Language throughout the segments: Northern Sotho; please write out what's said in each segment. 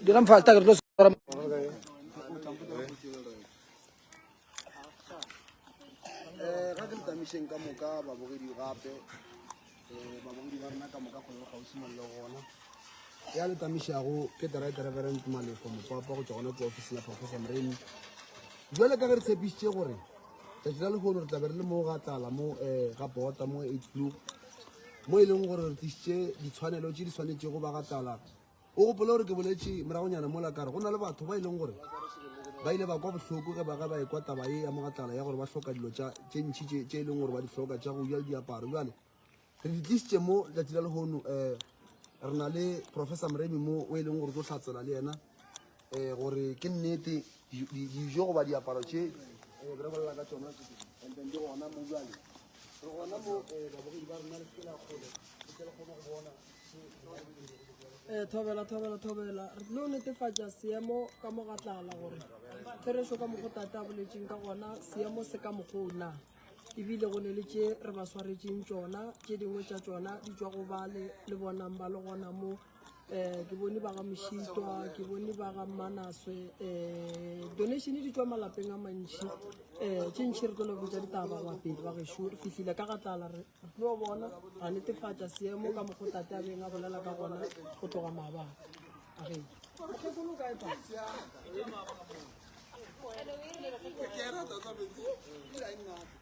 Dirang falta que los Eh, ga ke le tamišeng ka moka babogedi gape um babogedi ba rena ka moka kgone go gausi mang le gona ya le tamišago ke director reverend malefo mopapa go tswa gona ko office la professor moreni jale ka ge re tshepišitše gore tsatsi la lehono re tlabe re le mo ga tlala mo um ga bota mo eight blue mo e leng gore re tlisitše ditshwanelo tše di tshwanetšego ba ga tala o gopole gore ke boletše moragonyana mola kare go na le batho ba e leng gore ba ile ba kwa bohloko ge ba ge ba ekwa taba ye ya mogatlala ya gore ba hloka dilo tše ntšhi tše e leng gore ba di hloka tša go ja le diaparo jale re di tlisitše mo letšatši la lehono um re na le professor moremi mo o e leng gore o tlo hlatsela le yena um gore ke nnete dijo goba diaparo tše um re bolela ka tsona and then di gona mo jale re gona mo um babogedi ba rona le sekela kgole re tle re kgone go bona um thobela thobela thobela re tlo netefatša seemo ka mo ga tlala gore therešo ka mokgo tate a boletseng ka gona seemo se ka mokgoo na ebile go ne le tše re ba swaretseng tšona tše dingwe tša tšona di tswa go bale le bonang ba le gona mo um ke bone ba ga mošitwa ke bone ba ga manaswe um donation di tswa malapeng a mantšhi um tše ntšhi re tlo le botsa ditaba bapedi ba gešo re fihlile ka ga tlala re tlo bona ra netefatša seemo ka mokgo tate a beng a bolela ka gona go tloga maabaka a re Hello,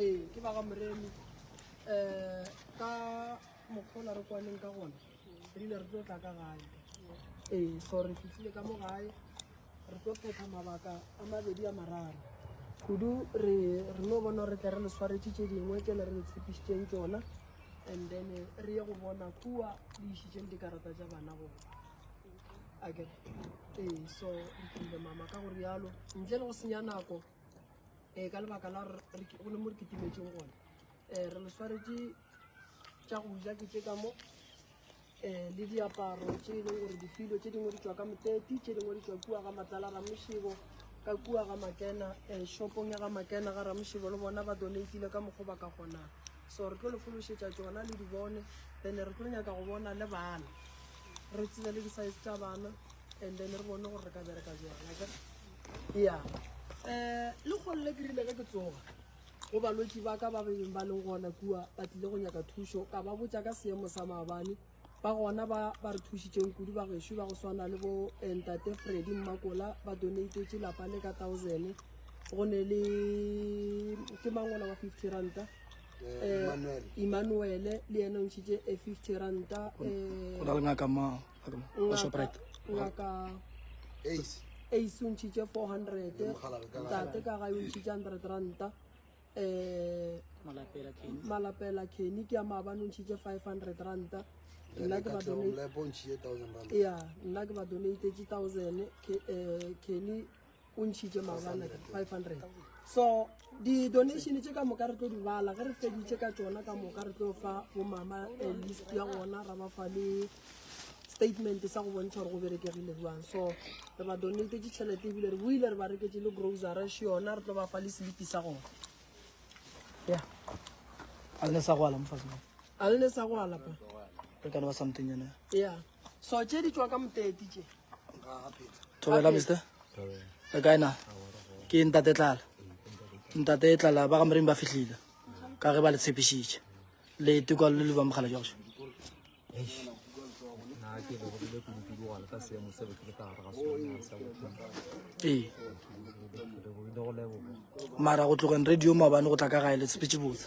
ee ke ba ga moremi um ka mokgola re kwaneng ka gona re ile re tlo tla ka gae ee so re fitlhile ka mo gae re tlo phetha mabaka a mabedi a mararo kudu re re no bona re tle re le tshwaretse tse dingwe tsele re le tshepišitseng tsona and then re ye go bona kua le išitseng dikarata tsa bana gona ee so re tlile mama ka gore yalo ntle le go senya nako um ka lebaka la go le mo re ketimetseng gone um re le tshwaretse tša go ja ke tse ka mo um le diaparo tse e leng gore difilo tse dingwe di tswa ka moteti tse dingwe di tswa kua ga matlala ramošebo ka kua ga makena um shopong ya ga makena ga ramošebo le bona ba donatile ka mokgwa ba ka kgonang so re tlo le fološetša tsona le di bone then re tlo nyaka go bona le bana re tsenya le di-size tša bana and then re bone gore re ka bereka jang aka ya um le kgone le kerile ka ke tsoga go balwetsi ba ka ba bebeng ba leng gona kua ba tlile go nyaka thuso ka ba botsa ka seemo sa maabane ba gona ba ba re thusitseng kudu ba gešo ba go swana le bo eh, ntate fredi mmakola ba donatetse lapa le ka thousand go ne le ke mangola wa fifty ranta eh, Emmanuel le yena o ntšhitše a eh, fifty ranta eh, ngaka ace o ntšhitše four hundred tate ka gae o ntšhitše hundred ranta um malapela kenny ke ya maabane o ntšhitše five hundred ranta nna ke ba donatetse thousand kenny o ntšhitše maabane 500 so di-donation tše ka moka re tlo di bala ge re feditše ka tsona ka moka re tlo fa bomama eh, list ya gona ra ba fa le statement sa go bontšha gore go berekegile jwang so re ba donate ditšhelete ebile re boile re ba reketse le grocery še yona re tlo ba fa le selipi sa gona ya a le ne sa go ala mofatse a le ne sa go alapa re ka ne ba something yona ya So tše di tšwa ka moteti tše. Thobela mister. Le kae na? Ke ntate tlala. Ntate tlala ba ga moreng ba fihlile. Ka ge ba le tshepišitše. Le tukwa le le ba mogala jwa go. Ee. Mara go tlogeng radio maobane go tla ka gae le tshepetše botse.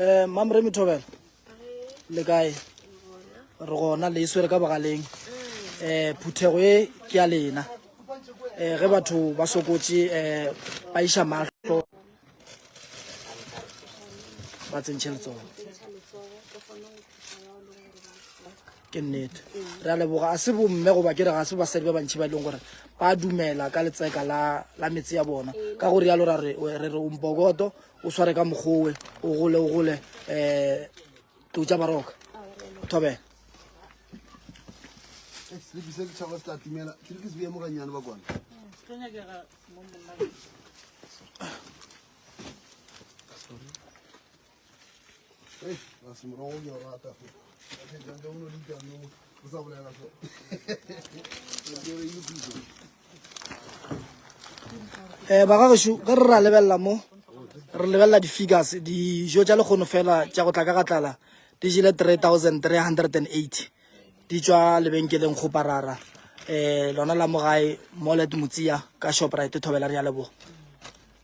eh mam re mithobela le kae re gona le iswere ka bogaleng eh phuthego e ke ya lena eh ge batho ba sokotse eh ba iša mahlo ba tsentšhe letsogo Ke nnete. Re a leboga. A se bomme goba ke re ga se basadi ba bantši ba e leng gore ba dumela ka letseka la, la metse ya bona. Ka go rialo ra re, re re o mbokoto, o sware ka mokgowe, o gole, o gole, eh, tou tša baroka. Thobela. Selipi se ke tšhaba se tla timela. Ke re ke se beye mo gannyane ba kwana. um ba gagešu ge re ra lebelela mo re lebelela di-figures dijo tša lekgono fela tša go tla ka gatlala di jele 3380 di tšwa lebenkeleng kgoparara um lona la mogae molet motsiya ka shoprite thobela re ya leboga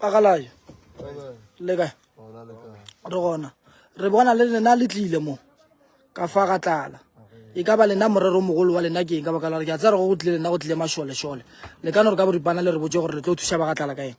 agalaya le kae re gona re bona le lena le tlile mo ka fa ga tlala e ka ba lena morero mogolo wa lena ke eng ka baka la gore ke a tsaya re go go tlile lena go tlile mašolešole le ka no re ka boripana le re botse gore le tlo thuša ba ga tlala ka eng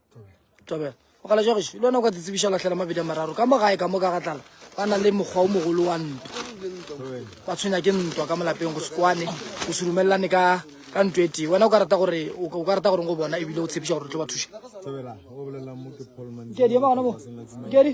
tobela o gala jwa gešo le wena o ka tsetsebiša lahlela mabedi a mararo ka mo gae ka mo ka ga tlala ba na le mokgwa o mogolo wa ntwa ba tshwenya ke ntwa ka molapeng go sekwane go se rumelelane ka ka ntwa e tee wena o ka rata gore o ka rata gore go bona ebile o tshepiša gore o tlo ba thuša Tobela, o bolela mo ke Paul Mandela. Nkedi, ema gona mo. Nkedi.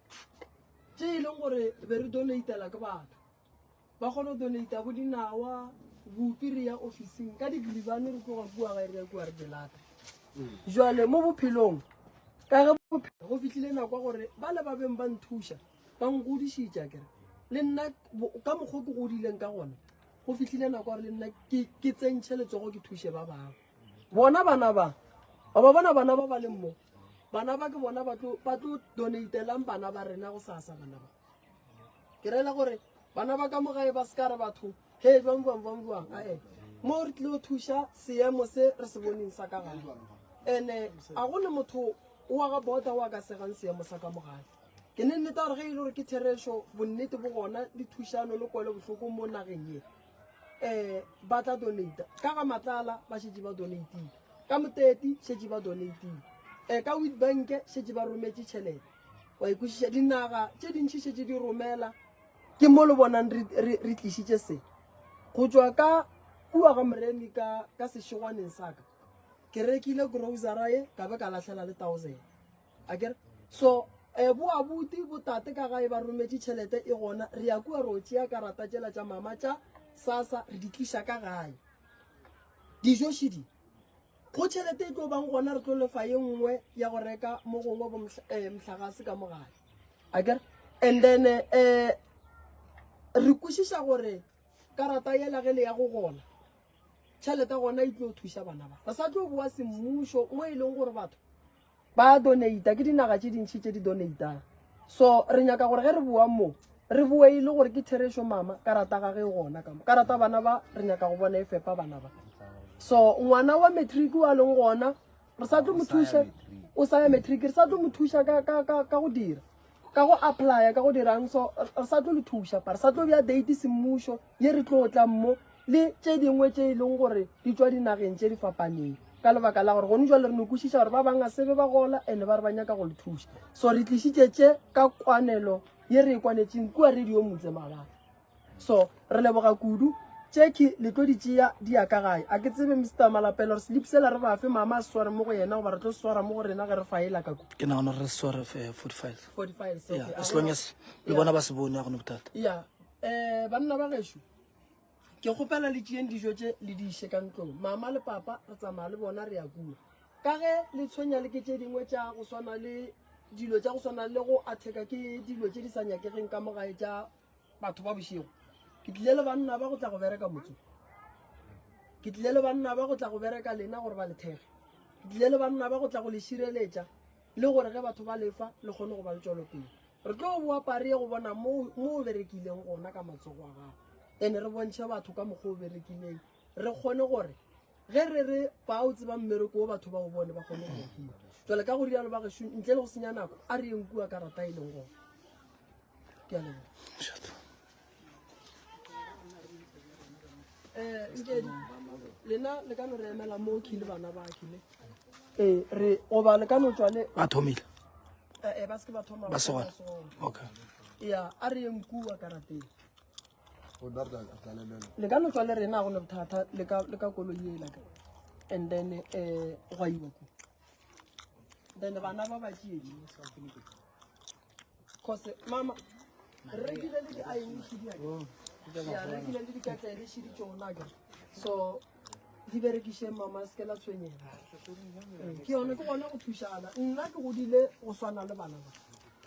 tše e leng gore be re donatela ke batho ba kgone go donata bo dinawa bopi re ya officing ka digribane re tloga kua gae re ya kua re delata jale mo bophelong ka ge bophelo go fitlhile nako ya gore ba le ba beng ba nthuša ba nkgodišitša kere le nna ka mokgwa ke godileng ka gona go fitlhile nako ya gore le nna ke tsentšhe letsogo ke thuše ba bangwe bona bana ba ba bona bana ba ba leng mo bana ba ke bona ba tlo donatelang bana ba rena go sasa bana ba ke rela gore bana ba ka mo gae ba se ka re batho he jwang jwang jwang jwang ae mo re tlile go thuša seemo se re se boneng sa ka gale and-e a go ne motho o wa ga bota o a ka segang seemo sa ka mo gae ke ne nneta gore ge e le gore ke therešo bonnete bo gona dithušano le kwele bohloko mo nageng ye um ba tla donata ka ga matlala ba šetse ba donatile ka moteti šetse ba donatile um ka wit banke šetse ba rometse tšhelete wa ikwešiša dinaga tše dintšhi šetse di romela ke mo le bonang re tlišitše se go tswa ka kua ga moremi ka sešegwaneng saka ke rekile grocery ka be ka lahlela le thousand Akere? So eh, bo abuti bo tate ka gae ba rometše tšhelete e gona re ya kua ro tšea karata tšela tša mama tša sasa re di tliša ka gae dijo šidi go tšhelete e tlo bang gona re tlo lefa ye nngwe ya go reka mo gongwe bo mhla- eh, mhlagase ka mogale akere and then um re kwešiša gore karata yela ge le ya go gola tšhelete gona e tlo thuša bana ba re sa tlo boa semmušo mo e leng gore batho ba donata ke dinaga tše dintšhi tše di donatang so re nyaka gore ge re boang mo re boe e le gore ke therešo mama ka rata ga ge gona ka mo ka rata bana ba re nyaka go bona e fepa bana ba so ngwana wa matric wa leng gona re sa tlo mo thuša o sa ya matric re sa tlo mo thuša ka ka ka ka go dira ka go apply ka go dirang so re sa tlo le thuša pa re sa tlo bja date semmušo ye re tlo tlang mo le tše dingwe tše e leng gore di tswa dinageng tše di fapaneng ka lebaka la gore gone jwa le re no kwešiša gore ba bangwe a sebe ba gola and-e ba re ba nyaka go le thuša so re tlišitše tše ka kwanelo ye re e kwanetseng kua radio motse mabaka so re leboga kudu tšeki le tlo di tšea di ya ka gae a ke tsebe mr malapela gore slip sela re bafe mama a sware mo go yena goba re tlo swara mo go rena ge re faela ka ku ke nagana re sware eh, forty files forty files as long as le bona ba se bone ya gone bothata ya um banna ba gešo ke kgopela le tšeyeng dijo tše le di iše ka ntlong mama le papa re tsamaya le bona re ya kua ka ge le tshwenya le ke tše dingwe tša go swana le dilo tša go swana le go atheka ke dilo tše di sa nyakegeng ka mogae tša batho ba bošego ke tlile le banna ba go tla go bereka motso ke tlile le banna ba go tla go bereka lena gore ba lethege ke tlile le banna ba go tla go le šireletša le gore ge batho ba lefa le kgone go ba le tšwelopele re tlo boa pari ye go bona mo o berekileng gona ka matsogo a gago and-e re bontšhe batho ka mokgwa o berekileng re kgone gore ge re re ba o tsebang mmereko o batho ba o bone ba kgone go kima jale ka go rialo ba gešo ntle le go senya nako a re yeng kua karata e leng gona ke a leboga eh, lena le ka no re emela mo khile bana ba khile ee eh, re goba le ka no tswa le ba thomile eh, eh, ba seke ba thoma ba segona okay ya a re yeng kua karateng le ka no tswa le rena go ne bothata le ka koloi ela ka and then um gwa iwa ko then bana ba ba tšee Kgose, mama, re rekile le di-ing shediake. Ya, re rekile le dikatle le shedi tšonaka. So, di berekiše mama se ke la tshwenyega. Ke yone ke gone go thušana. Nna ke godile go swana le bana ba.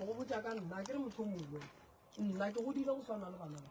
Go botša ka nna, ke re motho mongwe. Nna ke godile go swana le bana ba.